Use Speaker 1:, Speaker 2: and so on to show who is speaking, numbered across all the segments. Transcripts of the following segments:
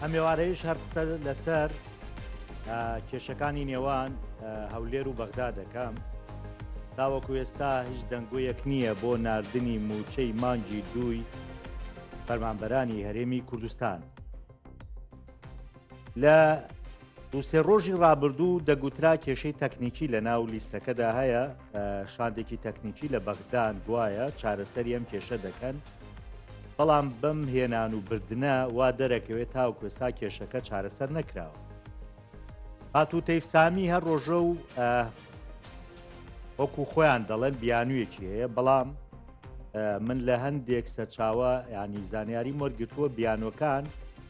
Speaker 1: ئەم ێوارەیش هەر قسە لەسەر کێشەکانی نێوان هەولێر و بەغدا دەکەم تاوەکو ئێستا هیچ دەنگۆیەک نییە بۆ نردنی موچەی مانگی دووی فەرمانبەرانی هەرێمی کوردستان لە دوو سێ ڕۆژی ڕابردوو دەگوترا کێشەی تەکنیکی لە ناو لیستەکەدا هەیە شاندێکی تەکنیکی لە بەغدان گوایە چارەسەری ئەم کێشە دەکەن بەڵام بەم هێنان و بردنە وا دەرەکەوێت تاو کوێستا کێشەکە چارەسەر نەکراوە هاتوو تەیفسامی هەر ڕۆژە و وەکو خۆیان دەڵێن بیانوویەکی هەیە بەڵام من لە هەندێک سەرچاوە ینی زانیاری مۆرگتووە بیانوەکان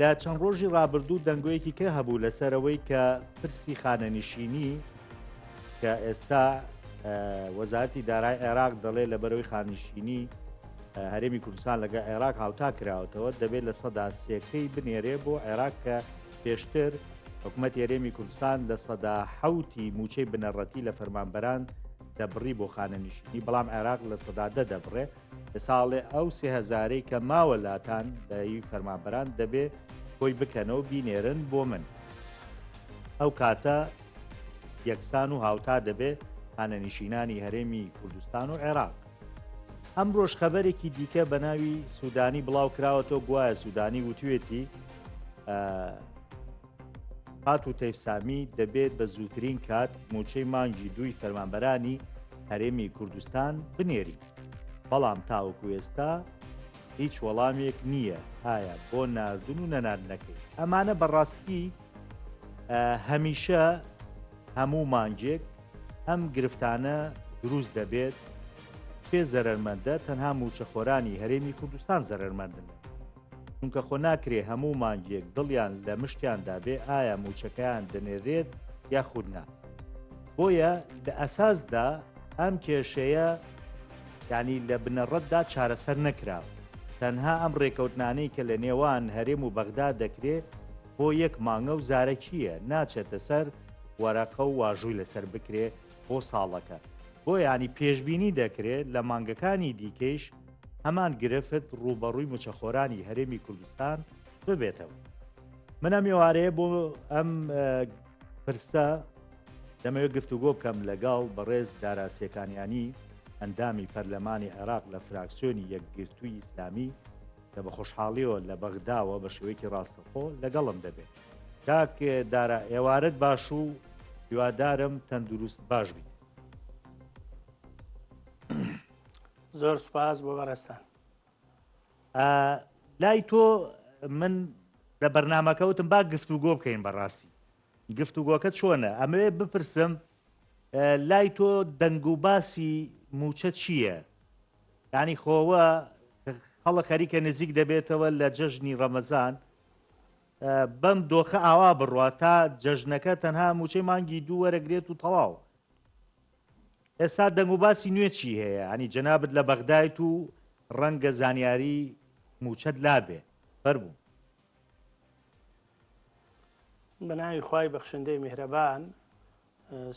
Speaker 1: لە چەند ڕۆژی ڕابردوو دەنگۆیەکی کە هەبوو لەسەرەوەی کە پرسی خانەنشینی کە ئێستا وەزارتی دارای عێراق دەڵێ لە بەرەوەی خانشینی هەرێمی کوردستان لەگە عێراق هاوتا کراوەتەوە دەبێت لە سەدا سێکەی بنێرێ بۆ عێراق کە پێشتر حکوومەت هەرێمی کوردستان لە سەدا حوتی موچەی بنەڕەتی لە فەرمانبەران دەبڕی بۆ خانەنیشتنی بەڵام عێراق لە سەدادە دەبڕێ ساڵێ ئەو سێ هەزارەی کە ماوە لاتان لای فەرمانبەران دەبێ خۆی بکەنەوە بینێرن بۆ من ئەو کاتە یەکسان و هاوتا دەبێت هانەنیشینانی هەرێمی کوردستان و عێراق ئەم ڕۆژ خەبەرێکی دیکە بە ناوی سوودانی بڵاو کراوەتەوە گوایە سوودانی وتوێتی هات و تەیفسامی دەبێت بە زووترین کات موچەی مانگی دووی فەرمانبەرانی هەرێمی کوردستان بنێریت بەڵام تاوەکو ئێستا هیچ وەڵامێک نییە هایا بۆ ناردن و نەناردنەکەی ئەمانە بەڕاستی هەمیشە هەموو مانجێک ئەم گرفتانە دروست دەبێت پێ زەرمەندە تەنها موچەخۆرانی هەرێمی کوردستان زەرمەندن چونکە خۆ ناکرێ هەموو مانگێک دڵیان لە مشتیاندا بێ ئایا موچەکەیان دەنێرێت یاخود نا بۆیە لە ئەساسدا ئەم کێشەیە ینی لە بنەڕەتدا چارەسەر نەکراوە تەنها ئەم ڕێکەوتنانەی کە لە نێوان هەرێم و بەغدا دەکرێت بۆ یەک مانگە و زارەکیە ناچێتە سەر وەرەقە و واژووی لەسەر بکرێ بۆ ساڵەکە بۆ ینی پێشببینی دەکرێت لە مانگەکانی دیکەیش هەمان گرفت ڕووبەڕووی مچەخۆرانی هەرێمی کوردستان ببێتەوە منە میێوارەیە بۆ ئەم پرسە دەمەوێت گفتوگۆ بکەم لەگەڵ بەڕێز داراسیەکانیانی ئەندامی پەرلەمانی عێراق لە فراکسیۆنی یەکگرتووی ئیسلامی کە بە خۆشحاڵیەوە لە بەغداوە بە شێوەیەکی ڕاستەخۆ لەگەڵم دەبێت کاک دارا ئێوارەت باش و هیوادارم تەندروست باش بین
Speaker 2: زۆر سوپاس بۆ بەڕێزتان.
Speaker 1: لای تۆ من لە بەرنمەکەوتم با گفت و گۆ بکەین بەڕاستی گفت و گۆکە چۆنە ئەمەوێ بپرسم لای تۆ دەنگ و باسی موچە چییە؟ ینی خۆوە خەڵە خەریکە نزیک دەبێتەوە لە جەژنی ڕەمەزان بەم دۆخە ئاوا بڕات تا جەژنەکە تەنها موچەی مانگی دوو وەرەگرێت و تەواو ئێستا دەنگ و باسی نوێ چی هەیە یانی جەنابت لە بەغدایت و ڕەنگە زانیاری موچەت لابێ فەرموو.
Speaker 2: بەناوی خوای بەخشندەی میهرەبان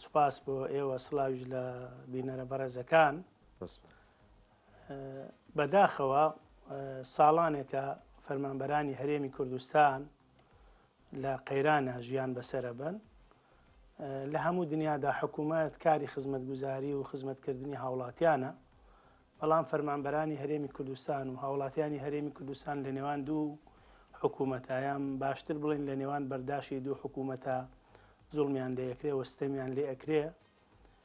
Speaker 2: سوپاس بۆ ئێوە سلاویش لە بینەرە بەڕێزەکان بەداخەوە ساڵانێکە فەرمانبەرانی هەرێمی کوردستان لە قەیرانە ژیان بەسرە بن لە هەموو دنیادا حکوومەت کاری خزمەتگوزاری و خزمەتکردنی هاوڵاتیانە، بەڵام فەرمانبەرانی هەرێمی کوردستان و هاوڵاتیانی هەرێمی کوردستان لە نێوان دوو حکوومەتە یان باشتر بڵێن لە نێوان بەرداشی دوو حکوومەتە زوڵمیان لێ ئەکرێ و ستەمیان لێ ئەکرێ.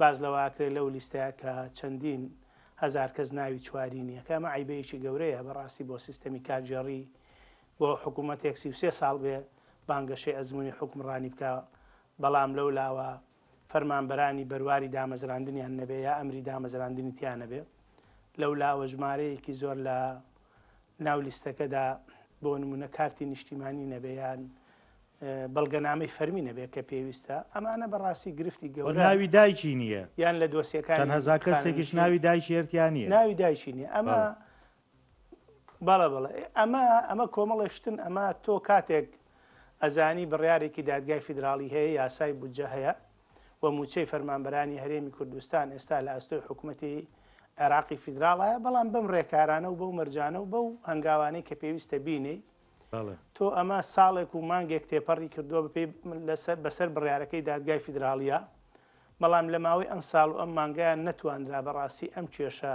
Speaker 2: باس لەوە ئەکرێت لەو لیستەیە کە چەندین هەزار کەس ناوی چواری نییە کە ئەمە عەیبەیەکی گەورەیە بەڕاستی بۆ سیستەمی کارگێڕی بۆ حکوومەتێک سی و سێ ساڵ بێ بانگەشەی ئەزموونی حوکمڕانی بکا بەڵام لەو لاوە فەرمانبەرانی بەرواری دامەزراندنیان نەبێ یا ئەمری دامەزراندنی تیا نەبێ لەو لاوە ژمارەیەکی زۆر لە ناو لیستەکەدا بۆ نمونە کارتی نیشتیمانی نەبێ یان بەڵگەنامەی فەرمی نەبێت کە پێویستە ئەمانە بەڕاستی گرفتی گەور ناوی دایکی نییە
Speaker 1: یان لە دۆسیەکان
Speaker 2: هەزا کەسێکیش ناوی
Speaker 1: دایشێرتیان نیە ناوی دایکی نیە ئەمە
Speaker 2: بەڵە بڵێ ئەمە ئەمە کۆمەڵێشتن ئەمە تۆ کاتێک ئەزانی بڕارێکی دادگای فیدراالی هەیە یاسای بودجە هەیە و مووچەی فەرمانبەرانی هەرێمی کوردستان ئێستا لە ئەستۆی حکوومەتی عێراقی فیدراڵە بەڵام بەم ڕێکارانە و بەو مەرجانە و بەو هەنگاوانەی کە پێویستە بینی تۆ ئەمە ساڵێک و مانگێک تێپەڕی کردووە بپی بەسەر بڕارەکەی دادگای فیدراالیە بەڵام لە ماوەی ئەم ساڵ و ئەم مانگیان نەتوانرا بەڕاستی ئەم کێشە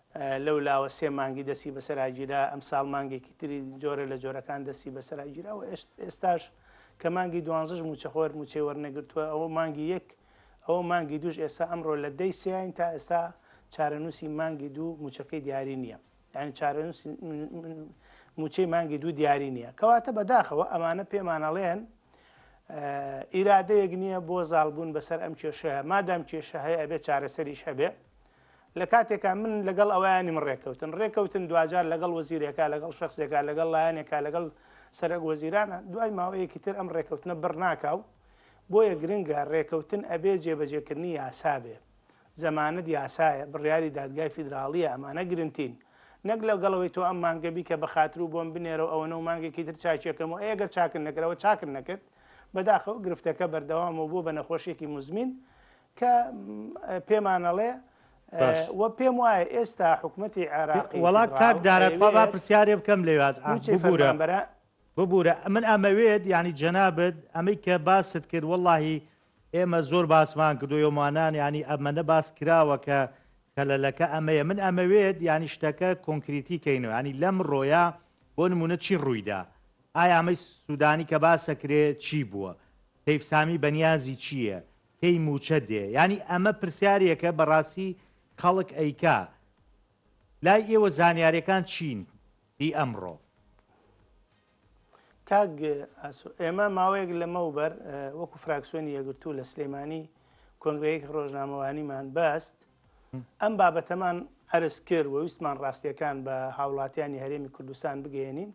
Speaker 2: لەو لاوە سێ مانگی دەستی بەسەراگیرا، ئەمساڵ مانگێکی تری جۆرە لە جۆرەکان دەستی بەسەراگیرا و ئێستاش کە مانگی دوانزەش مووچەخۆر مووچەی وەرنەگرتووە، ئەوە مانگی یەک، ئەوە مانگی دووش ئێستا ئەمڕۆ لە دەی سێاین تا ئێستا چارەنووسی مانگی دوو مووچەکەی دیاری نییە. یانی چارەنووسی مووچەی مانگی دوو دیاری نییە. کەواتە بەداخەوە ئەمانە پێمان ئەڵێن ئیرادەیەک نییە بۆ زاڵبوون بەسەر ئەم کێشەیە، مادام کێشە هەیە ئەبێ چارەسەریش هەبێ. لە کاتێکا من لەگەڵ ئەویانیم ڕێککەوتن ڕێککەوتن دواجار لەگەڵ وەزیرێکا لەگەڵ شخصێکا لەگەڵ لایەنێکا لەگەڵ سەرک وەزیرانە دوای ماوەیەکی تر ئەم ڕێککەوتنە بڕناکاو بۆیە گرنگە ڕێککەوتن ئەبێ جێبەجێکردنی یاسابێ زەمانەت یاسایە بڕیاری دادگای فیدراالیە ئەمانە گرنگتین نەک لەو گەڵەوەی تۆ ئەم مانگەبی کە بەخاتر و بۆم بنێرە ئەوەنە و مانگێکی تر چاکیەکەم و ئەگەر چاکن نەکرەوە چاکن نەکرد بەداخەوە گرفتەکە بەردەوامەوە بۆ بە نەخۆشیێکی مزمین کە پێمانەڵێ و پێم وایە ئێستا حکوومەتی عێراقی وڵا کاک دارەخوا
Speaker 1: با پرسیارێ بکەم لێوات بورە ببورە من ئەمەوێت ینی جەنابەت ئەمەی کە باست کرد واللهی ئێمە زۆر باسمان کردویۆمانان ینی ئەمەە باس کراوە کە کەلەلەکە ئەمەیە من ئەمەوێت ینی شتەکە کۆنکریتی کەینەوە ینی لەم ڕۆیە بۆ نمونە چی ڕوویدا ئایا ئەمەی سوودانی کە باسەکرێ چی بووە تەیفسامی بەنیازی چییە؟ پێی موچە دێ یانی ئەمە پرسیارێکە بەڕاستی خەڵک ئەیکا لای ئێوە زانیارەکان چین هی ئەمڕۆ
Speaker 2: کاک ئێمە ماوەیەک لەمە و بەر وەکو فراکسیۆنی یەگرتوو لە سلێمانی کۆنگرەیەک ڕۆژنامەوانیمان بەست ئەم بابەتەمان عەرز کرد و ویستمان ڕاستییەکان بە هاوڵاتیانی هەرێمی کوردستان بگەیەنین،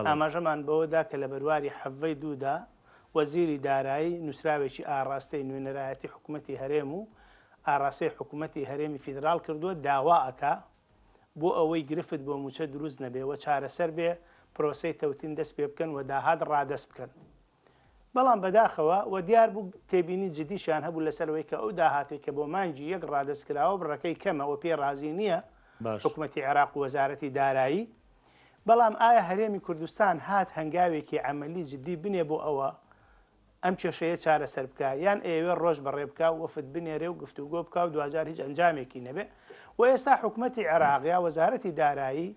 Speaker 2: ئاماژەمان بەوەدا کە لە بەرواری حەڤەی دوو دا، وەزیری دارایی نووسراوێکی ئاڕاستەی نوێنەرایەتی حکوومەتی هەرێم و ئاڕاستەی حکوومەتی هەرێمی فیدراڵ کردووە، داوا ئەکا بۆ ئەوەی گرفت بۆ مووچە دروست نەبێ و چارەسەر بێ، پرۆسەی تەوتین دەست پێ بکەن و داهات ڕادەست بکەن. بەڵام بەداخەوە وە دیار بوو تێبینی جدیشیان هەبوو لەسەر ئەوەی کە ئەو داهاتەی کە بۆ مانگی یەک ڕادەست کراوە بڕەکەی کەمە وە پێی ڕازی نییە حکومەتی عێراق و وەزارەتی دارایی. بەڵام ئایا هەرێمی کوردستان هات هەنگاوێکی عەمەلی جدی بنێ بۆ ئەوە ئەم کێشەیە چارەسەر بکا یان ئەیەوێ ڕۆژ بەڕێ بکا و وەفد بنێرێ و گفتوگۆ بکا و دواجار هیچ ئەنجامێکی نەبێ و ئێستا حکومەتی عێراق یا وەزارەتی دارایی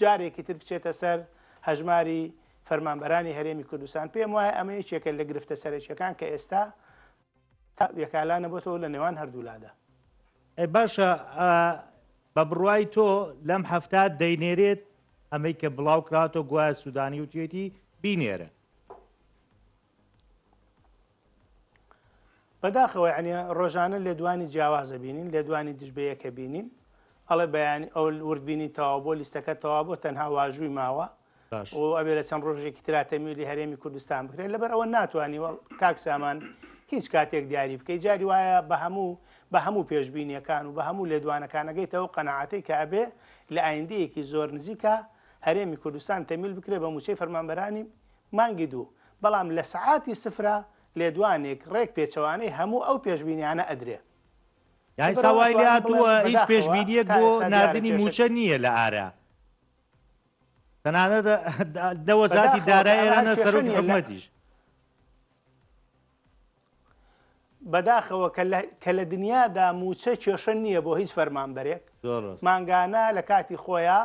Speaker 2: جارێکی تر بچێتە سەر هەژماری فەرمانبەرانی هەرێمی کوردستان پێم وایە ئەمە یەکێکە لە گرفتە سەرەکیەکان کە ئێستا یەکالا نەبەوە لە نێوان هەردوولادا باشە
Speaker 1: بە بڕای تۆ لەم هەفتا دەینێرێت ئەمەی کە بڵاو کراتۆ گوایە سوودانی وتێتی بینێرە
Speaker 2: بەداخەوە یعنی ڕۆژانە لێدوانی جیاوازە بینین لێدوانی دژبەیەکە بینین ئەڵێ بەیانی ئەو وردبینی تەوا بۆ لیستەکە تەوا بۆ تەنها واژووی ماوە و ئەبێ لە چەند ڕۆژێکی تراتەمیلی هەرێمی کوردستان بکرێت لەبەر ئەوە ناتوانانی وەڵ کاک سامان هیچ کاتێک دیاری بکەی جاری وایە بە هەموو بە هەموو پێشببینیەکان و بە هەموو لێدوانەکانەگەیتەوە قەنەعاتەی کە ئەبێ لە ئایندەیەکی زۆر نزیکە هەرێمی کوردستان تەمیل بکرێت بە موچەی فەرمانبەرانی مانگی دوو، بەڵام لە سەعاتی سفرە لێدوانێک ڕێک پێچەوانەی هەموو ئەو پێشبینیانە ئەدرێ. یاسا
Speaker 1: وای لێهاتووە هیچ پێشبینییەک بۆ ناردنی مووچە نییە لە ئارا. تەنانەت لە وەزاتی دارای ئێران و سەرۆکی حکومەتیش.
Speaker 2: بەداخەوە کە لە دنیادا مووچە کێشە نییە بۆ هیچ فەرمانبەرێک مانگانە لە کاتی خۆیە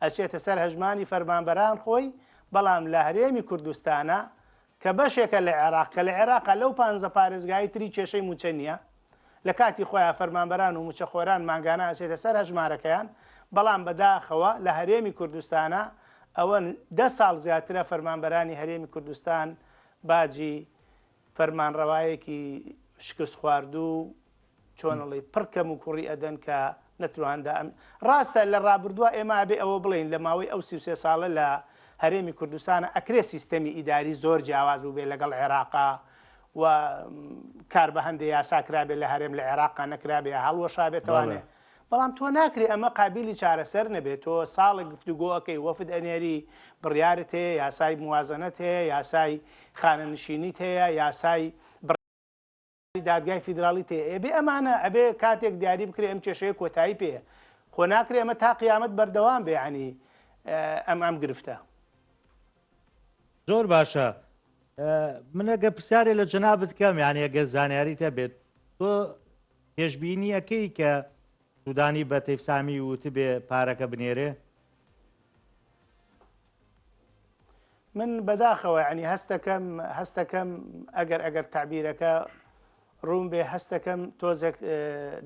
Speaker 2: ئەچێتە سەر هەژمانی فەرمانبەران خۆی بەڵام لە هەرێمی کوردستانە کە بەشێکە لە عێراق کە لە عێراقا لەو پانزە پارێزگای تری کێشەی موچە نییە لە کاتی خۆیان فەرمانبەران و موچەخۆران مانگانە ئەچێتە سەر هەژمارەکەیان بەڵام بەداخەوە لە هەرێمی کوردستانە ئەوە دە ساڵ زیاترە فەرمانبەرانی هەرێمی کوردستان باجی فەرمانڕەوایەکی شکست خواردو چۆنڵی پڕ کەم و کوڕی ئەدەن کە نەتواندا ئەم ڕاستە لە ڕابردووە ئێمە ئەبێ ئەوە بڵین لە ماوەی ئەو سی سێ ساڵە لە هەرێمی کوردستانە ئەکرێ سیستەمی ئیداری زۆر جیاواز بوو بێ لەگەڵ عێراقا و کار بە هەندێ یاساکرابێت لە هەرێم لە عێراقا نەکرابێ هەڵوەشابێتوانێ بەڵام تۆ ناکرێ ئەمە قابیلی چارەسەر نەبێ تۆ ساڵێک گفتوگۆ ئەکەی وەفد ئەنێری بڕیارت هەیە یاسای موازەنەت هەیە یاسای خانەنشینیت هەیە یاسای بڕیاری دادگای فیدراڵیت هەیە ئەبێ ئەمانە ئەبێ کاتێک دیاری بکرێ ئەم کێشەیە کۆتایی پێ خۆ ناکرێ ئەمە تا قیامەت بەردەوام بێ عنی ئەم ئەم گرفتە
Speaker 1: زۆر باشە منەگە پرسیارێ لە جەنابەت کەم یانە گە زانیاریتە بێت تۆ پێشبینییەکەی کە سودانی بە تەیفسامی وتبێ پارەکە بنێرێ؟
Speaker 2: من بەداخەوە عنی هەستەکەم هەستەکەم ئەگەر ئەگەر تعبیرەکە ڕوون بێ هەستەکەم تۆزێک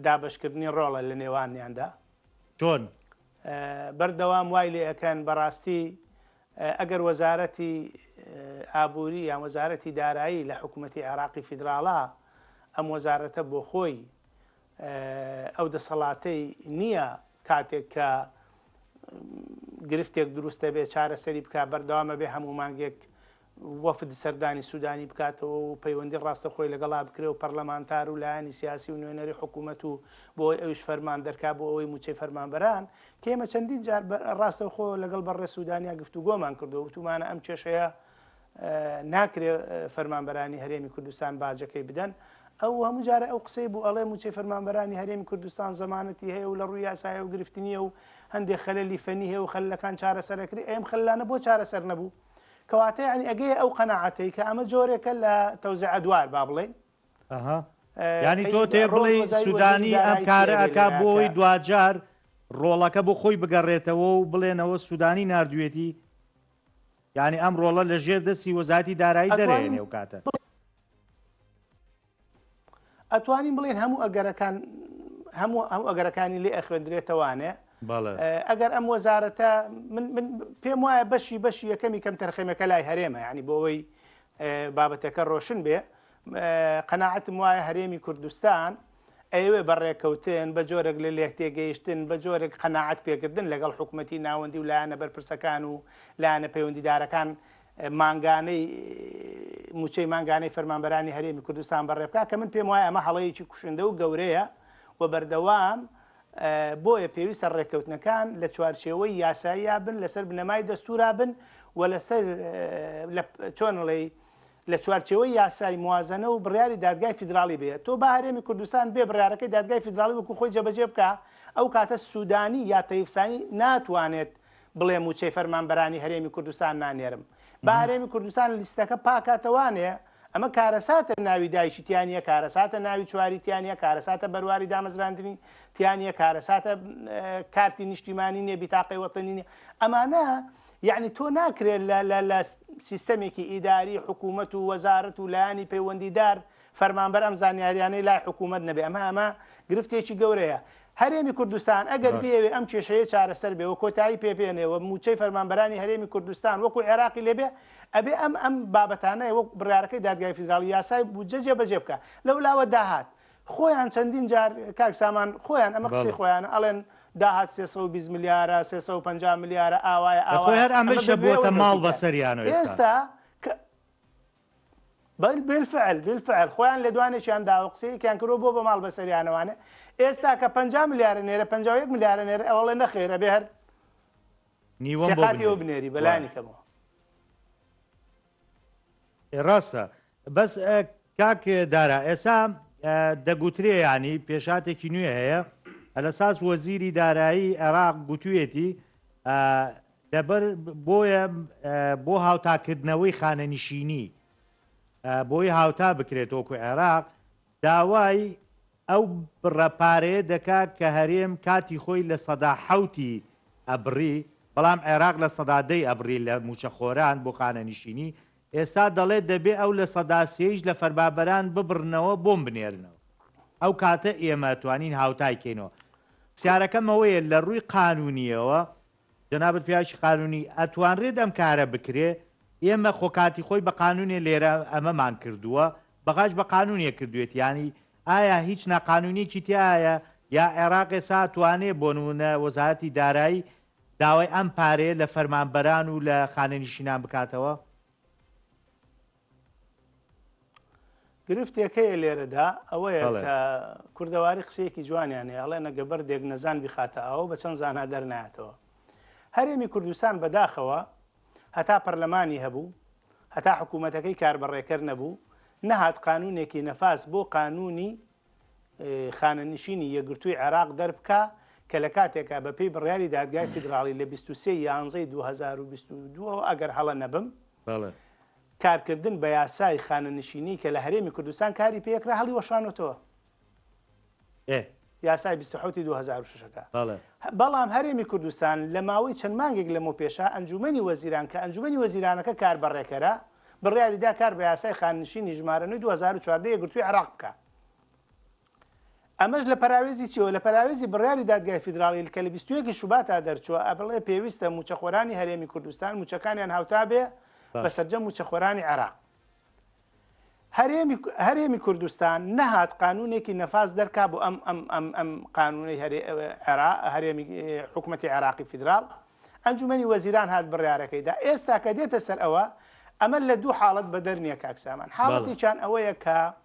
Speaker 2: دابشکردنی ڕۆڵە لە نێوانیاندا چۆن بەردەوام وای لێ ئەەکەن بەڕاستی ئەگەر وەزارەتی ئابووری یان وەزارەتی دارایی لە حکوومەتی عێراقی فیدراڵا، ئەم وەزارەتە بۆ خۆی ئەو دەسەڵاتەی نییە کاتێک کە گرفتێک دروست دەبێت چارەسەری بکات، بەردەوام ئەبێ هەموو مانگێک وەفد سەردانی سوودانی بکاتەوە و پەیوەندی ڕاستەخۆی لەگەڵا بکرێ و پەرلەمانتار و لایەنی سیاسی و نوێنەری حکوومەت و بۆ ئەویش فەرمان دەرکات بۆ ئەوەی مووچەی فەرمانبەران کێمە چەندین جار ڕاستەوخۆ لەگەڵ بەڕێ سوودانیا گفتوگۆمان کردو وتومانە ئەم کێشەیە ناکرێ فەرمانبەرانی هەرێمی کوردستان باجەکەی بدەن ئەو هەموو جارە ئەو قسەی بوو ئەڵێ موچەی فەرمانبەرانی هەرێمی کوردستان زمانەتی هەیە و لە ڕووی یاسایە و گرفتنیە و هەندێک خەللی فەنی هەیە و خەلەکان چارەسەرەکری ئەم خلانە بۆ چارەسەر نەبوو کەواتە ینی ئەگەی ئەو قەنەعاتەی کە ئەمە جۆرێکە لە تەوزع دوار با بڵێن
Speaker 1: یانی تۆ تێ بڵێ سودانی ئەم کارە ئەکا بۆی دواجار ڕۆڵەکە بۆ خۆی بگەڕێتەوە و بڵێنەوە سودانی نردوێتی یعنی ئەم ڕۆڵە لە ژێر دەستی وەزاتی دارایی دەرێنێ و کاتە
Speaker 2: ئەتوانین بڵێن هەموو ئەگەرەکان هەموو ئەو ئەگەرەکانی لێ ئەخوێندرێتەوانێ ئەگەر ئەم وەزارەتە پێم وایە بەشی بەشی یەکەمی کەم تەرخەمەکە لای هەرێمە ینی بۆەوەی بابەتەکە ڕۆشن بێ قەناعەتم وایە هەرێمی کوردستان ئەیەوێ بە ڕێکەوتن بە جۆرێک لە لێکتێگەیشتن بە جۆرێک قەنەعات پێکردن لەگەڵ حکوومەتی ناوەندی و لایەنە بەرپرسەکان و لایەنە پەیوەندیدارەکان مانگانەی موچەی مانگانەی فەرمانبەرانی هەرێمی کوردستان بەڕێبکە کە من پێم وایە ئەمە هەڵەیەکی کوشندە و گەورەیە و بەردەوام بۆیە پێویستە ڕێککەوتنەکان لە چوارچێوەی یاساییە بن لەسەر بنەمای دەستورا بن و لەسەر چۆنڵێی لە چوارچەوەی یاسای موازنە و بڕیاری دادگای فیدراالی بێت تۆ بە هەرێمی کوردستان بێ بڕارەکەی دادگای فیدراالی وکو خۆی جەبەجێ بکە ئەو کاتە سوودانی یا تەیفسانی ناتوانێت بڵێ موچەی فەرمانبەرانی هەرێمی کوردستان نانێرم بە هەرێمی کوردستان لیستەکە پاکاتەوانێ ئەمە کارەساتە ناوی دایکی تیا نیە کارەساتە ناوی چواری تیا نیە کارەساتە بەرواری دامەزراندنی تیا نیە کارەساتە کارتی نیشتیمانی نیە بیتاقی وەتەنی نیە ئەمانە یعنی تۆ ناکرێت لە سیستەمێکی ئیداری حکوومەت و وەزارەت و لایانی پەیوەندیدار فەرمانبەر ئەم زانیاریانەی لای حکوومەت نەبێ ئەمە ئەمە گرفتێکی گەورەیە هەرێمی کوردستان ئەگەر بێوێ ئەم کێشەیە چارەسەر بێ و کۆتایی پێپێنێەوە موچەی فەرمانبەرانی هەرێمی کوردستان وەکو عێراقی لێبێ ئەبێ ئەم ئەم بابەتانەی وەک بڕارەکەی دادگای فیدراڵی یاسای بودجە جێبەجێ بکە لەو لاوە داهات خۆیان چەندین جار کاک سامان خۆیان ئەمە قسەی خۆیان ئەڵێن داهات 320 ملیارە 350 ملیارە ئاوایە ئاوا هەر ئەمەشە
Speaker 1: بۆتە ماڵ بەسەریان ئێستا
Speaker 2: بەل بالفعل بالفعل خۆیان لە دوانێکیان داوە قسەیەکیان کرۆ بۆ بە ماڵ بەسەریانەوانێ ئێستا کە 50 ملیارە نێرە 51 ملیارە نێر ئەوڵێ نەخێرە بێ هەر نیوەم بۆ بنێری.
Speaker 1: ڕاستە بەس کاک دارا ئێسا دەگوترێ ینی پێشاتێکی نوێ هەیە لە ساس وەزیری دارایی عێراق گوتوێتی دەبەر بۆیە بۆ هاوتاکردنەوەی خانەنشینی بۆی هاوتا بکرێت وەکو عێراق داوای ئەو بڕە پارەیە دەکا کە هەرێم کاتی خۆی لە سەدا حەوتی ئەبڕی، بەڵام عێراق لە سەدا دەی ئەبڕی لە مووچەخۆران بۆ خانەنیشینی، ئێستا دەڵێ دەبێ ئەو لە سەدا سێیش لە فەرمابەران ببڕنەوە بۆم بنێرنەوە. ئەو کاتە ئێمە توانین هاوتای کەینەوە. پرسیارەکەم ئەوەیە لە ڕووی قانوونییەوە جەنابت پیاوێکی قانونی ئەتوانرێت ئەم کارە بکرێ ئێمە خۆ کاتی خۆی بە قانونێ لێرە ئەمەمان کردووە بەغاش بە قانونێ کردوێت یانی ئایا هیچ ناقانونیکی تایە یا عێراق ئێسا توانێ بۆ نمونە وەزارەتی دارایی داوای ئەم پارەیە لە فەرمانبەران و لە خانەنیشینان بکاتەوە
Speaker 2: گرفتێک هەیە لێرەدا ئەوەیە کە کوردەواری قسەیەکی جوانیان هەیە ئەڵێ نەگە بەردێک نەزان بخاتە ئەو بە چەند زانها دەرناتەوە هەرێمی کوردستان بەداخەوە هەتا پەرلەمانی هەبوو هەتا حکوومەتەکەی کاربەڕێکەر نەبوو نەهات قانونێکی نەفاس بۆ قانونی خانەنشینی یەگرتووی عێراق دەربکە کە لە کاتێکە بە پێی بڕیاری دادگای فیدراڵی لە 23 یانزەی 2022 ئەگەر هەڵە نەبم بەڵێ. کارکردن بە یاسای خانەنشینی کە لە هەرێمی کوردستان کاری پێکرا هەڵیوەشانۆتەوە. ئێ. یاسای بیست و حەوت ی دوو هەزار و شەش ەکە. بەڵێ. بەڵام هەرێمی کوردستان لە ماوەی چەند مانگێک لەمەو پێشە ئەنجوومەنی وەزیران کە ئەنجوومەنی وەزیرانەکە کار بە ڕێکەرە، بڕیاریدا کار بە یاسای خانەنشینی ژمارە نۆی دوو هەزار و چواردە یەکگرتووی عێراق بکا. ئەمەش لە پەراوێزی چیەوە؟ لە پەراوێزی بڕیاری دادگای فیدراڵیل کە لە بیست و یەک شوباتا دەرچووە ئەبڵێ پێویستە مووچەخۆرانی هەرێمی کوردستان مووچەکانیان هاوتا بێ بە سەرجەم مووچەخۆرانی عێراق. هەرێمی کوردستان نەهات قانونێکی نەفاس دەرکا بۆ ئەم ئەم ئەم ئەم قانونەی هەرێمی حکوومەتتی عێراقی فیدرال ئەنجومی وەزیران هات بڕارەکەیدا ئێستا کە دێتە سەر ئەوە ئەمە لە دوو حاڵت بە دەرنیە کاکسامان حاڵەتیان ئەوەیە کە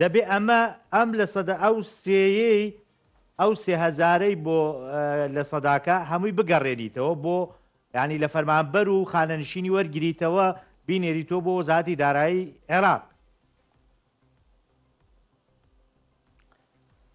Speaker 1: دەبێ ئەمە ئەم لە سەدا ئەو سێیەی ئەو سێ هەزارەی بۆ لە سەداکە هەمووی بگەڕێنیتەوە بۆ ینی لە فەرمانبەر و خانەنشینی وەرگریتەوە بینێریتۆ بۆ وەزاتی دارایی عێراق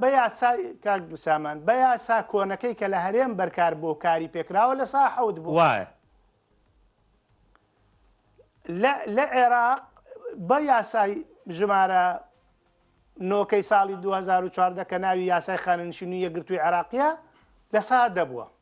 Speaker 2: بە یاسا کاک بسامان بە یاسا کۆنەکەی کە لە هەرێم بەرکار بۆ کاری پێکراوە لە سا حەوت بوو وایە لە عێراق بە یاسای ژمارە نۆکەی ساڵی 2014 کە ناوی یاسای خانەنشینی یەگرتووی عێراقیە لە سا دەبووە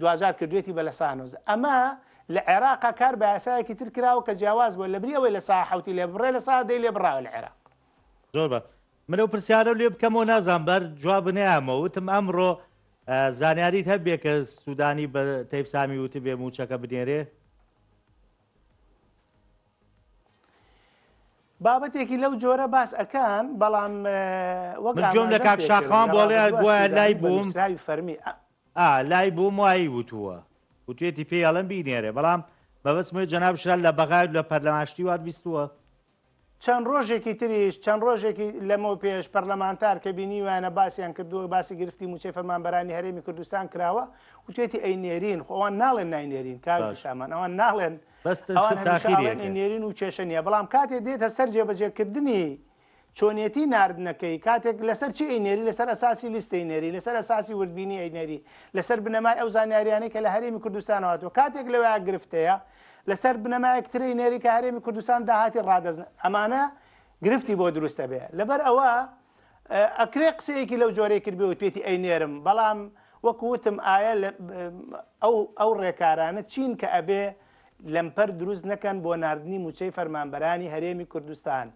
Speaker 2: دواجار کردوێتی بە لەسانۆز ئەمە لە عێراقا کار بە یاسایەکی تر کراوە کە جیاواز بووە لەبری ئەوەی لە سا حوتی لێ بڕێ لە سا دەی لێ بڕاوە لە عێراق. زۆر بە
Speaker 1: منەو پرسیارە لێ بکەمەوە نازان بەر جواب نەیامەوە وتم ئەمڕۆ زانیاریت هەبێ کە سوودانی بە تەیف سامی وتی بێ موچەکە بنێرێ
Speaker 2: بابەتێکی لەو جۆرە باس ئەەکان بەڵام وەک
Speaker 1: جۆم لە کاکشاخان بۆڵێ بۆە لای بووم فەرمی
Speaker 2: ئا لای
Speaker 1: بووم وایی وتووە وتوێتی پێی ئەڵێن بینێرێ بەڵام مەبەستم ئەوەی جەناب شرا لە بەغایت لە پەرلەمان شتی وات بیستووە؟ چەند
Speaker 2: ڕۆژێکی تریش چەند ڕۆژێکی لەمەو پێش پەرلەمانتار کە بینیویانە باسیان کردووە باسی گرفتی مووچەی فەرمانبەرانی هەرێمی کوردستان کراوە وتوێتی ئەی نێرین خۆ ئەوان ناڵێن نای نێرین کاک باش پیشامان ئەوان ناڵێن بەس ئەوان تەنها هەمیشە تاخیری ئەڵێن ئەی ئەکەن نێرین و کێشە نییە بەڵام کاتێ دێتە سەر جێبەجێکردنی چۆنێتی ناردنەکەی کاتێک لەسەر چی ئەینێری لەسەر ئەساسی لیستی نێری لەسەر ئەساسی وردبینی ئەینێری لەسەر بنەمای ئەو زانیاریانەی کە لە هەرێمی کوردستانەوەاتەوە کاتێک لەوە گرفتەیە لەسەر بنەمایەک تری نێری کە هەرێمی کوردستان داهاتی ڕادەزن ئەمانە گرفتی بۆ دروستە بێ لەبەر ئەوە ئەکرێ قسەیەکی لەو جۆرەی کرد بێ وتێتی ئەی نێرم بەڵام وەکوتم ئایا ئەو ڕێکارانە چین کە ئەبێ لەمپەر دروست نەکەن بۆ ناردنی مووچەی فەرمانبەرانی هەرێمی کوردستان.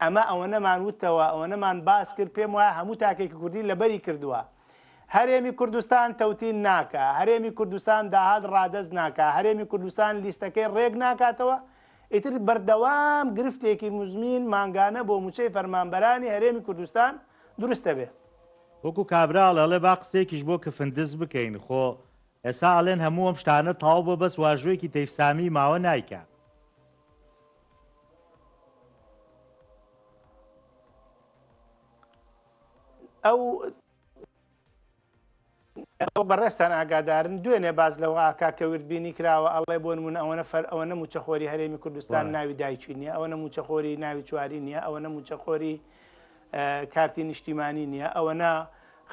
Speaker 2: ئەمە ئەوەنەمان وتەوە، ئەوەنەمان باس کرد، پێم وایە هەموو تاکێکی کوردی لەبەری کردووە. هەرێمی کوردستان تەوتین ناکا، هەرێمی کوردستان داهات ڕادەست ناکا، هەرێمی کوردستان لیستەکەی ڕێک ناکاتەوە، ئیتر بەردەوام گرفتێکی مزمین مانگانە بۆ مووچەی فەرمانبەرانی هەرێمی کوردستان دروست دەبێ. وەکو کابرا
Speaker 1: ئەڵێ با قسەیەکیش بۆ کفن دز بکەین، خۆ ئێستا ئەڵێن هەموو ئەم شتانە تەواو بووە بەس واژۆیەکی تەیف سامی ماوە نایکا.
Speaker 2: ئەو ئەو بەڕێستان ئاگادارن دوێنێ باز لەوە ئاکا کە وردبینی کراوە ئەڵێ بۆ نمونە ئەوەنە فەر ئەوەنە موچەخۆری هەرێمی کوردستان ناوی دایکی نیە ئەوەنە موچەخۆری ناوی چواری نیە ئەوەنە موچەخۆری کارتی نیشتیمانی نییە ئەوەنا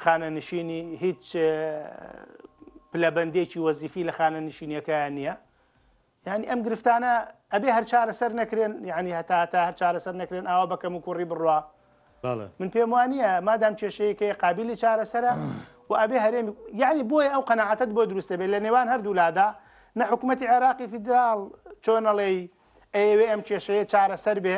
Speaker 2: خانەنشینی هیچ پلەبندێکی وەزیفی لە خانە نشینیەکەیان نییە ینی ئەم گرفتانە ئەبێ هەر چارەسەر نەکرێن ینی هەتا هەتا هەر چارەسەر نەکرێن ئاوا بەکەم و کوڕی بڕە من پێم وانە مادام کێشەیەکەی قابلی چارەسەرە و ئەبێ هەرێم یعنی بۆیە ئەو قەنەعاتت بۆ دروستە بێت لە نێوان هەردوولادا نە حکوومەتتی عێراقی فیدرال چۆنەڵێی ئەوێ ئەم کێشەیە چارەسەر بێ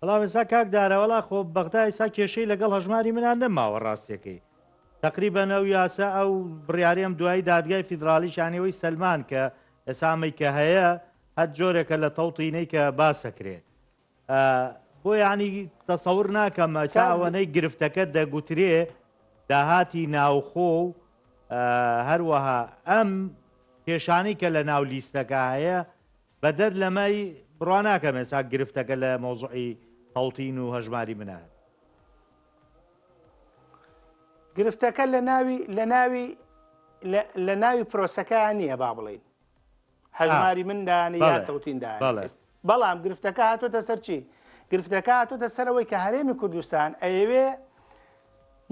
Speaker 2: بەڵام ئێستا
Speaker 1: کاک دارا وەڵا خۆ بەغدا ئێستا کێشەی لەگەڵ هەژماری منا نەماوە ڕاستیەکەی تقریبەن ئەو یاسا ئەو بڕیارەم دوایی دادگای فیدراالی شانەوەی سلمان کە ئێسامەی کە هەیە هەر جۆرێکە لە تەوتینەی کە باسەکرێ بۆ ینی تەسەور ناکەم ئەساوەەی گرفتەکە دەگوترێ داهاتی ناوخۆ و هەروەها ئەم کێشانی کە لە ناو لیستەکە هەیە بەدەر لەمەی بڕوا ناکەم ئێسا گرفتەکە لە مۆزعی هەڵتین و هەژماری منە
Speaker 2: گرفتەکە لە ناوی لە ناوی لە ناوی پرۆسەکەیان نییە با بڵین هەژماری مندان یا تەوتیندا بەڵام گرفتەکە هاتۆتە سەرچی گرفتەکە هاتۆتە سەرەوەی کە هەرێمی کوردستان ئەیەوێ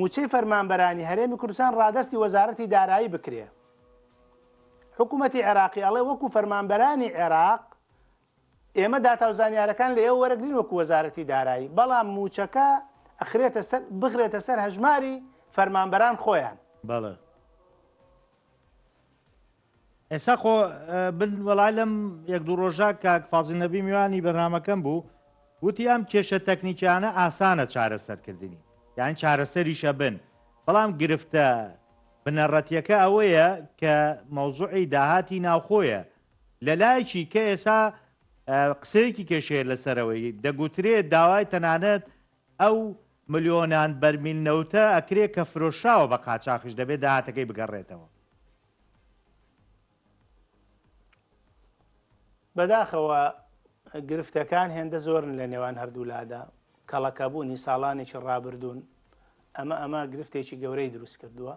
Speaker 2: موچەی فەرمانبەرانی هەرێمی کوردستان ڕادستی وەزارەتی دارایی بکرێ حکومەتی عێراقی ئەڵێ وەکو فەرمانبەرانی عێراق ئێمە داتا و زانیارەکان لە ئێوە وەرەگرین وەکو وەزارەتی دارایی بەڵام موچەکە ئەخرێتە سەر بخرێتە سەر هەژماری فەرمانبەران خۆیان
Speaker 1: بەڵێ ئێسا خۆ بن وەڵای لەم یەک دوو ڕۆژە کاک فازی نەبی میوانی بەرنمەکەم بوو وتی ئەم کێشە تەکنیکیانە ئاسانە چارەسەرکردنی یان چارەسەریشە بن بەڵام گرفتە بنەڕەتیەکە ئەوەیە کە مەوزوعی داهاتی ناوخۆیە لە لایەکی کە ئێسا قسەیەکی کێشەیە لەسەرەوەی دەگوترێت داوای تەنانەت ئەو ملیۆنان بەرمیل نەوتە ئەکرێت کە فرۆشراوە بە قاچاخش دەبێت داهاتەکەی بگەڕێتەوە
Speaker 2: بەداخەوە گرفتەکان هێندە زۆرن لە نێوان هەردوولادا کەڵەکەبوونی ساڵانێکی ڕابردوون ئەمە ئەمە گرفتێکی گەورەی دروست کردووە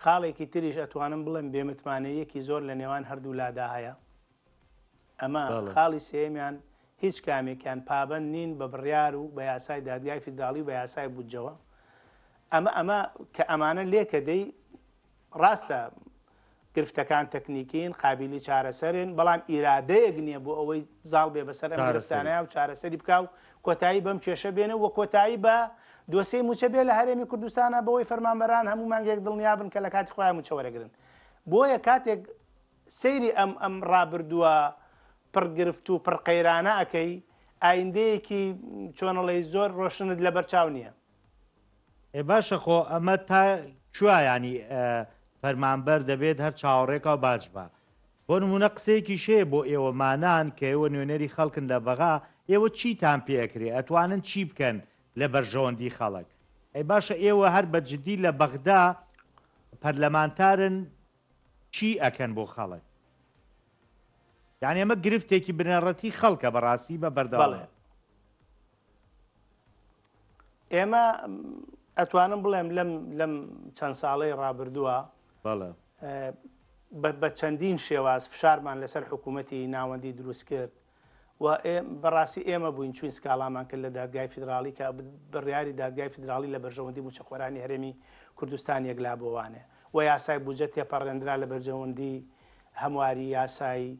Speaker 2: خاڵێکی تریش ئەتوانم بڵێم بێمتمانەیەکی زۆر لە نێوان هەردوولادا هەیە ئەمە خاڵی سێمیان هیچ کامێکیان پابند نین بە بڕیار و بە یاسای دادگای فیدراڵی و بە یاسای بودجەوە ئەمە ئەمە کە ئەمانە لێکە دەی ڕاستە گرفتەکان تەکنیکین قابیلی چارەسەرن بەڵام ئیرادەیەک نییە بۆ ئەوەی زاڵ بێ بەسەر ئەم گرفتانەیە و چارەسەری بکە و کۆتایی بەم کێشە بێنە و کۆتایی بە دۆسەی موچە بێ لە هەرێمی کوردستانە بەوەی فەرمانبەران هەموو مانگێک دڵنیا بن کە لە کاتی خۆیان موچە وەرەگرن بۆیە کاتێک سەیری ئەم ئەم ڕابردووە پڕگرفت و پڕقەیرانە ئەەکەی ئایندەیەکی چۆنەڵی زۆر ڕۆشنت لە بەرچاو نییە ئێ
Speaker 1: باشە خۆ ئەمە تا کوایانی فەرمانبەر دەبێت هەر چاوەڕێکا و باج بە بۆ نمونە قسەیەکی شێ بۆ ئێوەمانان کە ئێوە نوێنەری خەڵکن لە بەغا ئێوە چیتان پێکرێ ئەتوانن چی بکەن لە بەرژەوەندی خەڵک ئەی باشە ئێوە هەر بە جددی لە بەغدا پەرلەمانتارن چی ئەکەن بۆ خەڵک یان ئێمە گرفتێکی بنەڕەتی خەڵکە بەڕاستی بە بەردەڵێ
Speaker 2: ئێمە ئەتوانم بڵێم لەم لەم چەند ساڵەی ڕابردووە بە چەندین شێواز فشارمان لەسەر حکوومەتتی ناوەندی دروست کرد و بەڕاستی ئێمە بووین چوین سکاڵامان کرد لە دادگای فیدراالی کە بڕیاری دادگای فیدراالی لە بەرژەوەندی موچەخۆرانی هەرێمی کوردستان یەکلا بۆوانێ و یاسای بجە تێپەڕێنرا لە بەرجەوەندی هەمواری یاسایی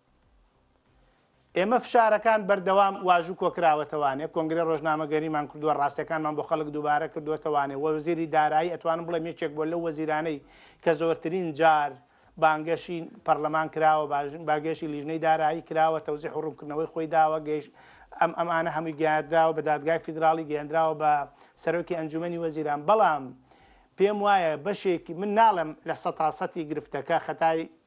Speaker 2: ئێمە فشارەکان بەردەوام واژوو کۆکراوەتەوانێ کۆنگری ڕۆژنامەگەریمان کردووە ڕاستەکانمان بۆ خەڵک دووبارە کردوەتەوانێ وەزیری دارایی ئەتوانم بڵێ یەکێک بۆ لەو وەزیرانەی کە زۆرترین جار بانگەشی پەرلەمان کراوە باگەشی لیژنەی دارایی کراوە تەوزیح و ڕوونکردنەوەی خۆی داوە گەیش ئەم ئەمانە هەمووی گەیاندراوە بە دادگای فیدراڵی گەیاندراوە بە سەرۆکی ئەنجومی وەزیران بەڵام پێم وایە بەشێکی من ناڵم لە سەتاسەتی گرفتەکە خەتای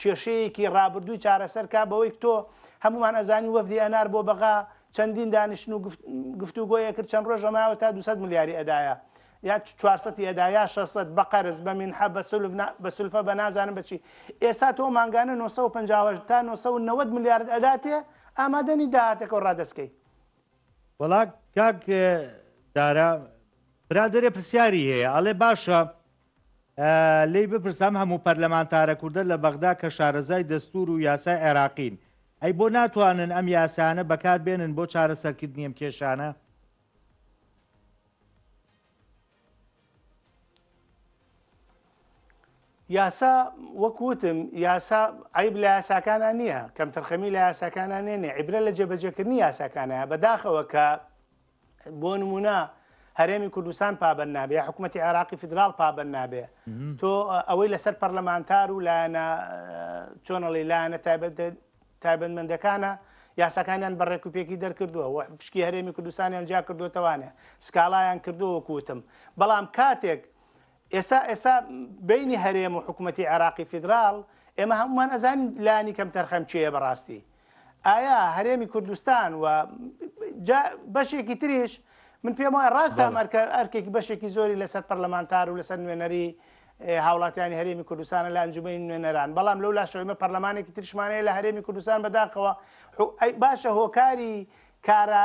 Speaker 2: کێشەیەکی ڕابردووی چارەسەر کا بەوەیک تۆ هەموومان ئەزانین وەفدی ئەنار بۆ بەغا چەندین دانیشتن و گفتوگۆیە کرد چەند ڕۆژە ماوە تا 200 ملیاری ئەدایە یا 400 ئەدا یا 600 بە قەرز بە مینحە بە سلف بە سلفە بە نازانم بچی ئێستا تۆ مانگانە 950 تا 990 ملیارد ئەداتێ ئامادەنی داهاتەکە و ڕادەستکەی وڵا
Speaker 1: کاک دارا برادێ پرسیاری هەیە ئەڵێ باشە لێی بپرسە ئەم هەموو پەرلەمانتارە کوردە لە بەغدا کە شارەزای دەستوور و یاسای عێراقین ئەی بۆ ناتوانن ئەم یاسایانە بەکار بێنن بۆ چارەسەرکردنی ئەم کێشانە؟
Speaker 2: یاسا وەک وتم یاسا عیب لە یاساکانە نییە کەم تەرخەمی لە یاساکانە نێنێ عیبرە لە جێبەجێکردنی یاساکانە بەداخەوە کە بۆ نمونە هەرێمی کوردستان پابەن نابێ حکوومەتتی عێراقی فیدرال پابەن نابێ تۆ ئەوەی لەسەر پەرلەمانتار و لایەنە چۆنەڵی لایەنە تایبەت تایبەتمەندەکانە یاساکانیان بە ڕێکوپێکی دەرکردووە و پشکی هەرێمی کوردستانیان جیا کردوتەوانێ سکاڵایان کردووە کوتم بەڵام کاتێک ئێستا ئێستا بەینی هەرێم و حکومەتی عێراقی فیدراڵ ئێمە هەموومان ئەزانین لانی کەم تەرخەم چێە بەڕاستی ئایا هەرێمی کوردستان و بەشێکی تریش من پێم وایە ڕاستە ئەمەرکە ئەرکێکی بەشێکی زۆری لەسەر پەرلەمانتار و لەسەر نوێنەری هاوڵاتیانی هەرێمی کوردستانە لە ئەنجومی نوێنەران بەڵام لەو لاشەوەمە پەرلەمانێکی ترشمانەیە لە هەرێمی کوردستان بەداخەوە باشە هۆکاری کارە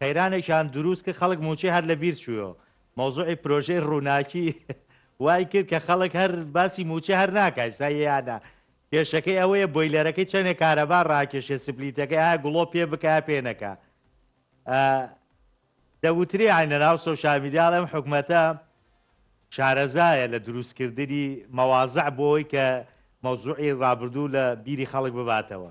Speaker 1: قەیرانێکیان دروست کرد خەڵک موچەی هەر لەبیر چوویەوە مەوزوعی پرۆژەی ڕووناکی وای کرد کە خەڵک هەر باسی موچە هەر ناکای سایەیانە کێشەکەی ئەوەیە بۆیلەرەکەی چەندێک کارەبا ڕاکێشێ سپلیتەکەی ئایا گوڵۆ پێ بکە پێ نەکە دەوترێ ئاین لەناو سۆشامیدیال ئەم حکومەتە شارەزایە لە دروستکردنی مەوازع بۆی کە مەوزوعی ڕابردوو لە بیری خەڵک بباتەوە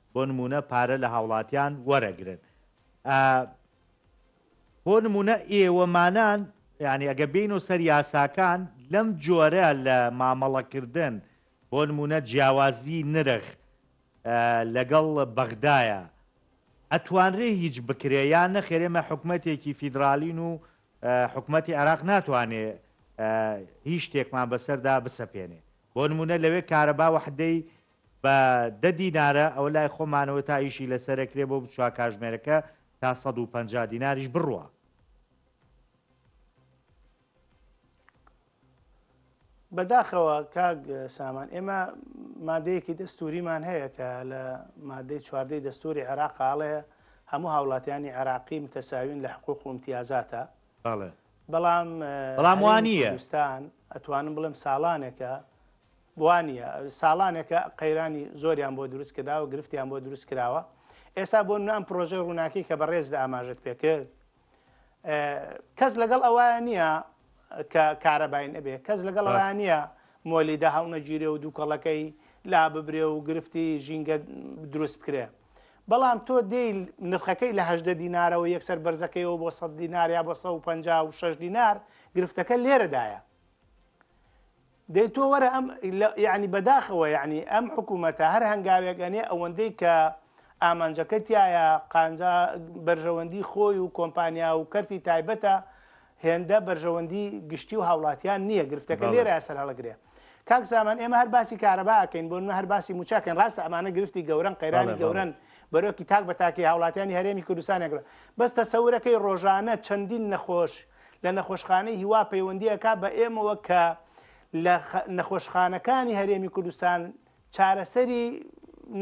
Speaker 1: بۆ نمونە پارە لە هاوڵاتیان وەرەگرن بۆ نمونە ئێوەمانان یعنی ئەگە بین و سەر یاساکان لەم جۆرە لە مامەڵەکردن بۆ نمونە جیاوازی نرخ لەگەڵ بەغدایە ئەتوانرێ هیچ بکرێ یان نەخێرێمە حکوومەتێکی فیدرالین و حکوومەتتی عراق ناتوانێ هیچ شتێکمان بەسەردا بسەپێنێ بۆ نمونە لەوێ کارەبا وحدەی بە دە دینارە ئەوە لای خۆمانەوە تا ئیشی لەسەر ئەکرێ بۆ بچوە کاژمێرەکە تا سەد و پەنجا دیناریش بڕوا.
Speaker 2: بەداخەوە کاک سامان ئێمە مادەیەکی دەستوریمان هەیە کە لە مادەی چواردەی دەستوری عێراق ئاڵەیە هەموو هاوڵاتیانی عێراقی متەساوین لە حقوق و امتیازاتە بەڵێ بەڵام
Speaker 1: بەڵام وانە ئەتوانم
Speaker 2: بڵێم ساڵانێکە وانیە ساڵانێکە قەیرانی زۆریان بۆ دروست کرداوە گرفتیان بۆ دروست کراوە ئێستا بۆ نام پرۆژەی ڕووناکی کە بەڕێز لە ئاماژت پێکرد کەس لەگەڵ ئەوە نییە کە کارەباین ئەبێ کەس لەگەڵ ئەوە نییە مۆلیدا هەڵنەگیرێ و دووکەڵەکەی لا ببرێ و گرفتی ژینگە دروست بکرێ بەڵام تۆ دێی نرخەکەی لە هەدە دینارەوە یەکسەر بەرزەکەیەوە بۆ سە دیناریا بۆ 156 دینار گرفتەکە لێرەدایە دەی تۆ وەرە ئەم یعنی بەداخەوە یعنی ئەم حکوومەتە هەر هەنگاوێک ئەنێ ئەوەندەی کە ئامانجەکە تایە قانجا بەرژەوەندی خۆی و کۆمپانیا و کەرتی تایبەتە هێندە بەرژەوەندی گشتی و هاوڵاتیان نییە گرفتەکە لێرە سەر هەڵگرێ کاک زامان ئێمە هەر باسی کارەباکەین بۆ هەر باسی موچاکەن ڕاستە ئەمانە گرفتی گەورن قەیرانی گەورن بەرۆکی تاک بە تاکی هاوڵاتیانی هەرێمی کوردستانێکرا بەس تەسەورەکەی ڕۆژانە چەندین نەخۆش لە نەخۆشخانەی هیوا پەیوەندی ئەکا بە ئێمەوە کە لە نەخۆشخانەکانی هەرێمی کوردستان چارەسەری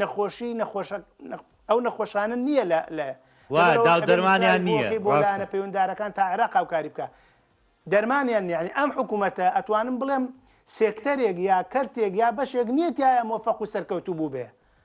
Speaker 2: نەخۆشی نەخۆشە ئەو نەخۆشانە نییە لە لە دەرمانیان
Speaker 1: نییە بۆ لایەنە پەیوەندارەکان
Speaker 2: تا عێراق هاوکاری بکە دەرمانیان نیانی ئەم حکوومەتە ئەتوانم بڵێم سێکتەرێک یا کەرتێک یا بەشێک نییە تایە مۆفەق و سەرکەوتوو بوو بێ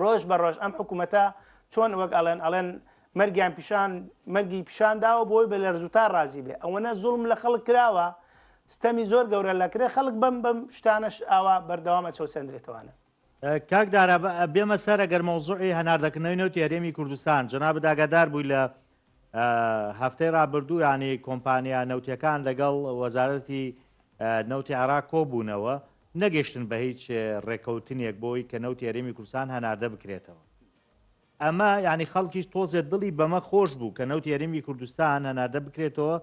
Speaker 2: ڕۆژ بە ڕۆژ ئەم حکوومەتە چۆن وەک ئەڵێن ئەڵێن مەرگیان پیشان مەرگی پیشان داوە بۆی بە لەرزوتا ڕازی بێ ئەوەنە زوڵم لە خەڵک کراوە ستەمی زۆر گەورە لە کرێ خەڵک بەم بەم شتانش ئاوا بەردەوامە چەوسەندرێتەوانە کاک دارا
Speaker 1: بێمە سەر ئەگەر مەوزوعی هەناردەکردنەوەی نەوتی هەرێمی کوردستان جەنابت ئاگادار بووی لە هەفتەی رابردوو یانی کۆمپانیا نەوتیەکان لەگەڵ وەزارەتی نەوتی عێراق کۆبوونەوە، نەگەشتن بە هیچ رێکەوتنێک بۆی کە نەوتی هەرێمی کوردستان هەناردە بکرێتەوە. ئەمە یانی خەڵکیش تۆزێ دڵی بەمە خۆش بوو کە نەوتی هەرێمی کوردستان هەناردە بکرێتەوە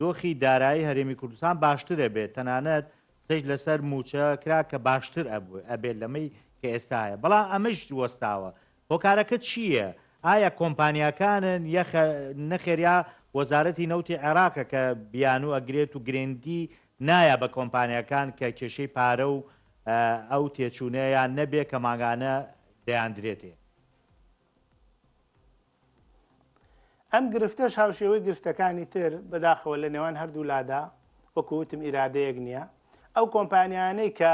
Speaker 1: دۆخی دارایی هەرێمی کوردستان باشتر ئەبێت، تەنانەت قسەیش لەسەر مووچە کرا کە باشتر ئەبێت لەمەی کە ئێستا هەیە، بەڵام ئەمەیش وەستاوە، هۆکارەکە چی یە؟ ئایا کۆمپانیاکانن یە خە نەخێر یا وەزارەتی نەوتی عێراقە کە بیانوو ئەگرێت و گرێنگی نایا بە کۆمپانیاکان کە کێشەی پارە و ئە ئەو تێچوونە یان نە بێ کە مانگانە دەیاندرێتێ؟
Speaker 2: ئەم گرفتەش هاوشێوەی گرفتەکانی تر بەداخەوە لە نێوان هەردوو لادا وەکو وتم ئیرادەیەک نیە ئەو کۆمپانیانەی کە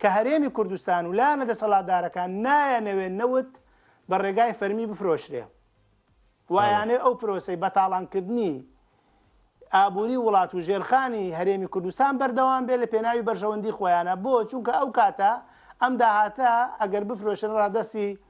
Speaker 2: کە هەرێمی کوردستان و لایەنە دەسەڵاتدارەکان نایەنەوێت نەوت بە ڕێگای فەرمی بفرۆشرێ وایانێ ئەو پرۆسی بەتاڵانکردنی ئابووری وڵات و ژێرخانی هەرێمی کوردستان بەردەوام بێ لە پێناوی بەرژەوەندی خۆیانە بۆ چونکە ئەو کاتە ئەم داهاتە ئەگەر بفرۆشن ڕادستی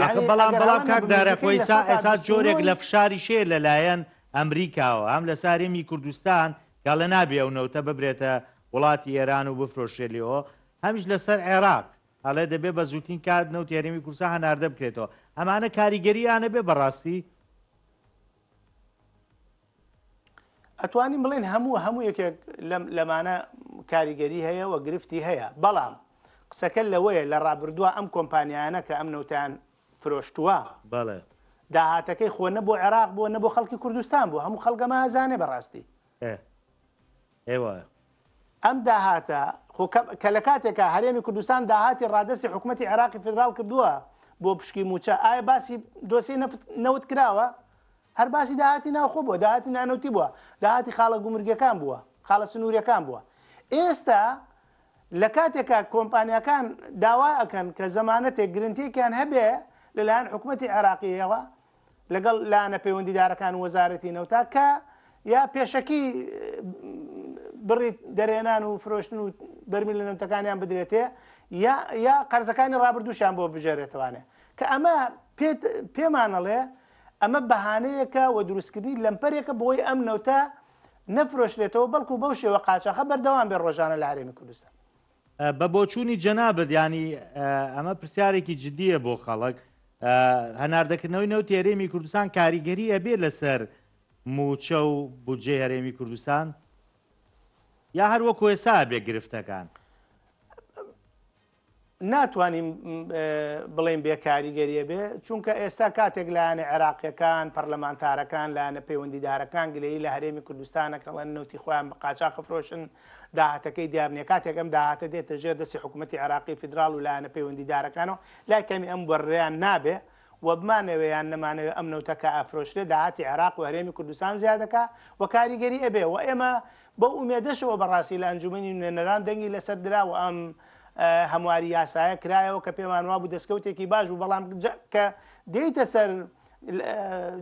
Speaker 2: ئاخە
Speaker 1: بەڵام بەڵام کاک دارە خۆی ئێستا ئێستا جۆرێک لە فشاریش هەیە لەلایەن ئەمریکاوە هەم لەسەر هەرێمی کوردستان کە لە نابێ ئەو نەوتە ببرێتە وڵاتی ئێران و بفرۆشێ لێەوە هەمیش لەسەر عێراق ئەڵێ دەبێ بە زووتین کات نەوت هەرێمی کورسا هەناردە بکرێتەوە ئەمانە کاریگەریانە بێ بەڕاستی
Speaker 2: ئەتوانین بڵێن هەموو هەموو یەکێک لەمانە کاریگەری هەیە و گرفتی هەیە بەڵام قسەکە لەوەیە لە ڕابردووە ئەم کۆمپانیانە کە ئەم نەوتیان فرۆشتووە بەڵێ
Speaker 1: داهاتەکەی
Speaker 2: خۆ نە بۆ عێراق بووە نە بۆ خەڵکی کوردستان بوو هەموو خەڵگەمە ئازانێ بەڕاستی
Speaker 1: ئێ وایە.
Speaker 2: ئەم داهاتە، خۆ کە لە کاتێکا هەرێمی کوردستان داهاتی ڕادەستی حکومەتی عێراقی فیدراڵ کردووە بۆ پشکی مووچە، ئایا باسی دۆسیەی نەفت نەوت کراوە؟ هەر باسی داهاتی ناوخۆ بووە، داهاتی نانەوتی بووە، داهاتی خاڵە گومرگیەکان بووە، خاڵە سنووریەکان بووە. ئێستا لە کاتێکا کۆمپانیاکان داوا ئەکەن کە زەمانەتێک گرنتێکیان هەبێ لەلایەن حکومەتی عێراقیەوە، لەگەڵ لایەنە پەیوەندیدارەکان و وەزارەتی نەوتا کە یا پێشەکی بڕی دەرێنان و فرۆشتن و بەرمی لە نەوتەکانیان بدرێتێ یا قەرزەکانی ڕابردووشیان بۆ بژێرێتوانێ کە ئەمە پێمانەڵێ ئەمە بەهانەیەکە و دروستکردنی لەمپەرێکە بۆی ئەم نەوتە نەفرۆشرێتەوە بەڵکو بەو شێوە قاچەخە بەردەوام بێ ڕۆژانە لە هەرێمی کوردستان بە
Speaker 1: بۆچوونی جەنابت یانی ئەمە پرسیارێکی جددیە بۆ خەڵک هەناردەکردنەوەی نەوتی هەرێمی کوردستان کاریگەری ئەبێ لەسەر موچە و بودجێ هەرێمی کوردستان یا هەر وەکو ێسا بێ گرفتەکان
Speaker 2: ناتوانین بڵێن بێ کاریگەریە بێ چونکە ئێستا کاتێک لایەنە عێراقیەکان پەرلەمانتارەکان لایەنە پەیوەندیدارەکان گلەی لە هەرێمی کوردستانەکەڵەن نوتی خۆیان بە قاچا خفرۆشن داهاتەکەی دیار نییە، کاتێک ئەم داهاتە دێتە ژێر دەستی حکوومەتی عێراقی فیدراڵ و لایەنە پەیوەندیدارەکانەوە، لای کەمی ئەم بڕیان نابێ و بمانەوێ یان نەمانەوێ ئەم نەوتە کە ئەفرۆشرێ داهاتی عێراق و هەرێمی کوردستان زیا دەکا و کاریگەری ئەبێ و ئێمە بەو ئومێدەشەوە بەڕاستی لە ئەنجوومەنی نوێنەران دەنگی لەسەر درا و ئەم هەمواری یاسایە کرایەوە کە پێمان وابوو دەستکەوتێکی باش بوو بەڵام کە دێیتە سەر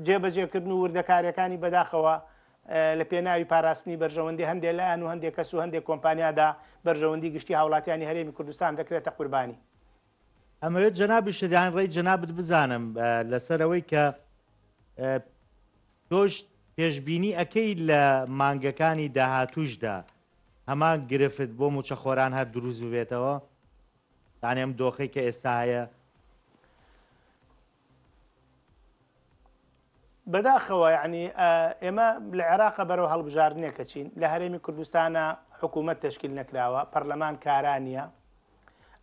Speaker 2: جێبەجێکردن و وردەکارییەکانی بەداخەوە لە پێناوی پاراستنی بەرژەوەندی هەندێ لایەن و هەندێ کەس و هەندێ کۆمپانیادا بەرژەوەندی گشتی هاوڵاتیانی هەرێمی کوردستان دەکرێتە قوربانی. ئەمەوێت
Speaker 1: جەنابی شریان ڕێی جەنابت بزانم لەسەر ئەوەی کە تۆش پێشببینی ئەەکەی لە مانگەکانی داهاتوشدا هەمان گرفت بۆ موچەخۆران هەر دروست ببێتەوە دانێم دۆخی کە ئێستا هەیە
Speaker 2: بەداخەوە یعنی ئێمە لە عێراقە بەرەو هەڵبژاردنێکە چین لە هەرێمی کوردستانە حکوومەت تشکیل نەکراوە پەرلەمان کارانە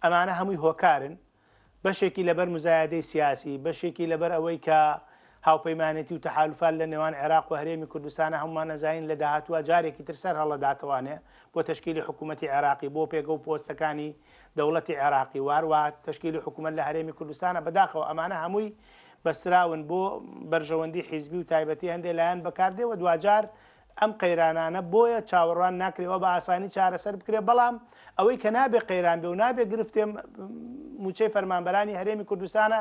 Speaker 2: ئەمانە هەمووی هۆکارن بەشێکی لەبەر مزایادەی سیاسی بەشێکی لەبەر ئەوەی کە هاوپەیمانێتی و تەحالفال لە نێوان عێراق و هەرێمی کوردستانە هەمومان نەزانین لە داهاتوە جارێکی تر سەر هەڵداتوانێ بۆ تشکیلی حکوومەتتی عێراقی بۆ پێگە و پۆستەکانی دەوڵەتی عێراقی واروا تەشکیلی حکوومەت لە هەرێمی کوردستانە بەداخەوە ئەمانە هەمووی بەستراون بۆ بەرژەوەندی حیزبی و تایبەتی هەندێک لایەن بەکاردێ و دواجار ئەم قەیرانانە بۆیە چاوەڕوان ناکرێەوە بە ئاسانی چارەسەر بکرێت بەڵام ئەوەی کە نابێ قەیران بێ و نابێ گرفتێ موچەی فەرمانبەرانی هەرێمی کوردستانە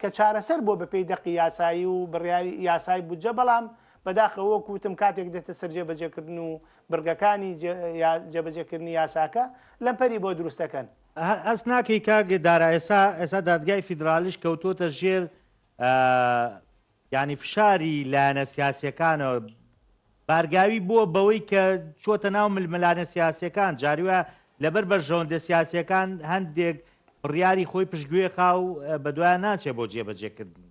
Speaker 2: کە چارەسەر بۆ بەپی دەقی یاسایی و بڕیاری یاسای بودجە بەڵام بەداخەوە کوتم کاتێک دێتە سەرجێ بەجێکردن و بڕگەکانی جێبەجێکردنی یاساکە لەمپەری بۆ دروست دەکەن. هەست ناکەی
Speaker 1: کاک دارا ئێستا ئێستا دادگای فیدرالیش کەوتووەتە ژێر ینی فشاری لایەنە سیاسەکانەوە بارگاوی بووە بەوەی کە چۆتە ناو ململانە سیاسەکان جاریوە لەبەر بەرژەوەندە سیاسەکان هەندێک بڕیاری خۆی پشتگوێ خاو بە دوایان ناچێ بۆ جێبەجێکردنی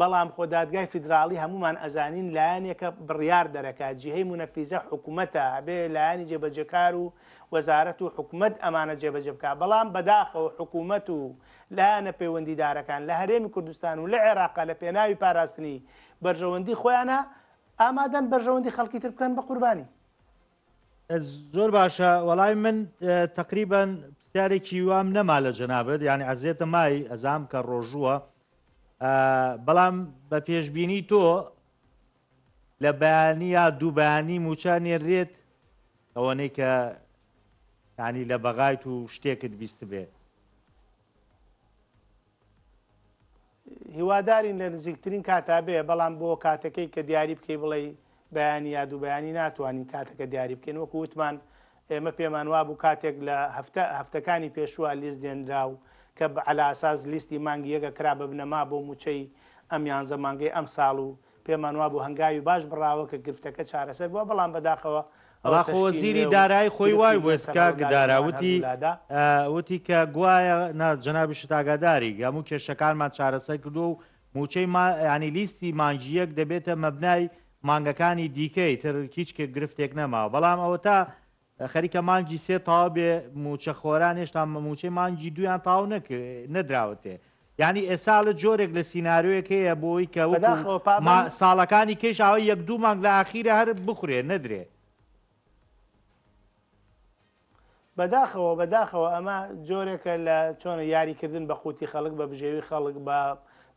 Speaker 2: بەڵام خۆ دادگای فیدراڵی هەموومان ئەزانین لایەنێکە بڕیار دەرەکات جیهەی مونەفیزە حکومەتە ئەبێ لایەنی جێبەجێکار و وەزارەت و حکومەت ئەمانە جێبەجێ بکات بەڵام بەداخەوە حکومەت و لایەنە پەیوەندیدارەکان لە هەرێمی کوردستان و لە عێراقا لە پێناوی پاراستنی بەرژەوەندی خۆیانە ئامادەن بەرژەوەندی خەڵکی تر بکەن بە قوربانی.
Speaker 1: زۆر باشە وەڵای من تقریبان پرسیارێکی وام نەما لە جەنابەت یعنی ئەزیێتە مای ئەزام کە ڕۆژووە بەڵام بە پێشببینی تۆ لە بەیانی یا دووبانی موچە نێرێت ئەوەنەی کە ینی لە بەغایت و شتێکت بیست بێ
Speaker 2: هیوادارین لە نزیکترین کاتا بێ بەڵام بۆ کاتەکەی کە دیاری بکەی بڵێ بەیانی یا دوو بەیانی ناتوانین کاتەکە دیاری بکەین وەکو وتمان ئێمە پێمان وابوو کاتێک لە هەفتە هەفتەکانی پێشووە لیست دێنرا و کە عەلاساس لیستی مانگی یەکە کرا بە بنەما بۆ موچەی ئەم یانزە مانگەی ئەمساڵ و پێمان وابوو هەنگاوی باش بڕاوە کە گرفتەکە چارەسەر بووە، بەڵام بەداخەوە ئەوە تەشکی نوێ و گرفتی
Speaker 1: نوێ سەر هەوڵدارییەکەمان هەردوولادا. وتی کە گوایە نا، جەنابیشت ئاگاداری هەموو کێشەکانمان چارەسەر کردووە و مووچەی ما، یانی لیستی مانگی یەک دەبێتە مەبنای مانگەکانی دیکەی تر، هیچ گرفتێک نەماوە، بەڵام ئەوەتا خەریکە مانگی سێ تەواو بێ مووچە خۆران هێشتا مووچەی مانگی دوویان تەواو نەدراوەتێ یعنی ئێسالە جۆرێک لە سینناروەک هەیە بۆی کە ساڵەکانی کێشاوە یەک دوو مانگ لە ئاخیرە هەر بخورێ نەدرێ
Speaker 2: بەداخەوە بەداخەوە ئەمە جۆرێکە لە چۆنە یاریکردن بە قوتی خەڵک بە بژێوی خەڵک بە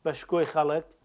Speaker 2: بە شکۆی خەڵک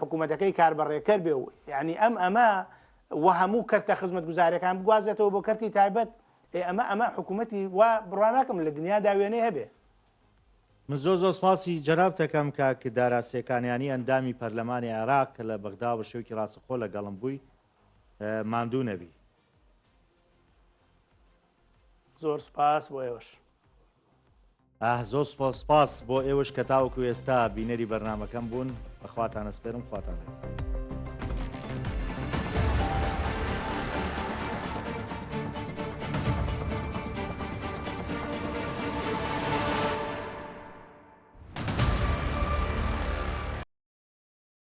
Speaker 2: حکومەتەکەی کاربەڕێکەر بێ و یعنی ئەم ئەمە و هەموو کەرتە خزمەت گوزارەکان بگوازێتەوە بۆ کەرتی تایبەت ئەمە ئەمە حکوومەتی وا بڕاناکەم لە دنیا داوێنێ هەبێ من
Speaker 1: زۆ زۆ سپاسی جەراب دەکەم کە کە داراسیەکانیانی ئەندامی پەرلەمانی عێراق کە لە بەغدا بە شێوکی ڕاستەخۆ لە گەڵم بووی ماندوو نەبی زۆر
Speaker 2: سپاس بۆ ئێوەش
Speaker 1: ئاه زۆر سپاس سپاس بۆ ئێوەش کە تاوەکو ئێستا بینەری بەرنامەکەم بوون بەخواتان ئەسپێرم خواتان لەگەڵ.